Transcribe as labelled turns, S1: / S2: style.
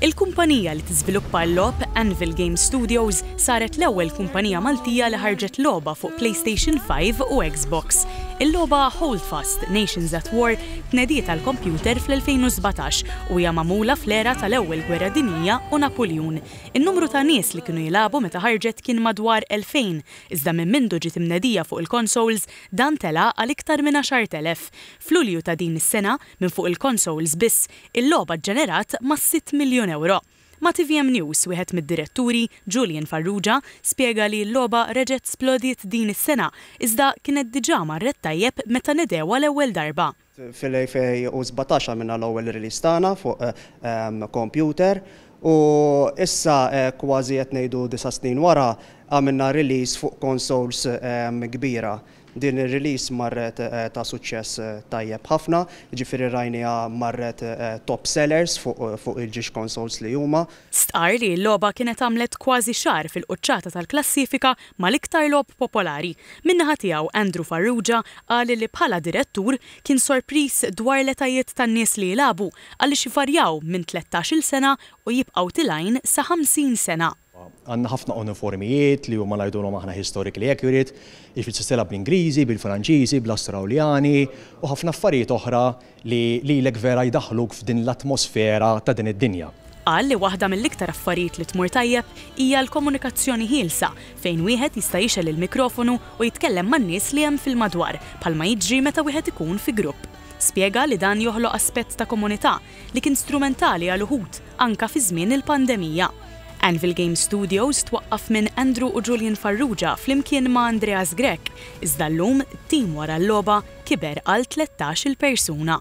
S1: Il-kumpanija li tiżviluppa l-logħob, Anvil Game Studios, saret l-ewwel kumpanija Maltija li ħarġet logħba fuq PlayStation Five u Xbox. Il-logħba Holdfast, Nations at War tnediet għall-kompjuter fl-2017 u hija magħmula fl-era tal-Ewwel Gwerra Dinjija u Napuljun. In-numru ta' nies li kienu jilagħbu meta ħarġet kien madwar 2,000, iżda minn mindu ġiet imnedija fuq il-konsols dan tela' għal iktar minn 10,000. F'Lulju ta' din is-sena, minn fuq il-konsols biss, Il-logħba ġġenerat mas-sitt miljun ewro. Ma' tvm News, wieħed mid-diretturi, Julian Farrugia, spjega li l-logħba reġgħet splodiet din is-sena, iżda kienet diġà marret tajjeb meta nedewha l-ewwel darba. Fil-2017
S2: għamilna l-ewwel release tagħna fuq kompjuter u issa kważi qed ngħidu disa' snin wara għamilna release fuq consoles kbira. Din ir-release marret ta' suċċess tajjeb ħafna, jiġifieri rajniha marret top sellers fuq il-ġiex consoles li huma. Stqarr li l-logħba
S1: kienet għamlet kważi xahar fil-quċċata tal-klassifika mal-iktar logħob popolari. Min-naħa tiegħu, Andrew Farrugia qal li bħala direttur kien sorpriż dwar l-etajiet tan-nies li jilagħbu għaliex jvarjaw minn tlettax-il sena u jibqgħu til-għajn sa 50 sena. Għandna ħafna
S3: uniformijiet li huma ngħidulhom aħna historically accurate, jiġifieri tistgħidilha bl-Ingliżi, bil-Franċiżi, bl-Astrawljani u ħafna affarijiet oħra li lilek vera jdaħħluk f'din l-atmosfera ta' din id-dinja. Qal li waħda
S1: mill-iktar affarijiet li tmur tajjeb hija l-komunikazzjoni ħielsa fejn wieħed jista' jixgħel il-mikrofonu u jitkellem man-nies li hemm fil-madwar bħalma jiġri meta wieħed ikun fi grupp. Spjega li dan joħloq aspett ta' komunità li kien strumentali għal uħud, anke fi żmien il-pandemija. Anvil Game Studios twaqqaf minn Andrew u Julian Farrugia flimkien ma' Andreas Grech, iżda llum t-tim wara l-logħba kiber għal tlettax-il persuna.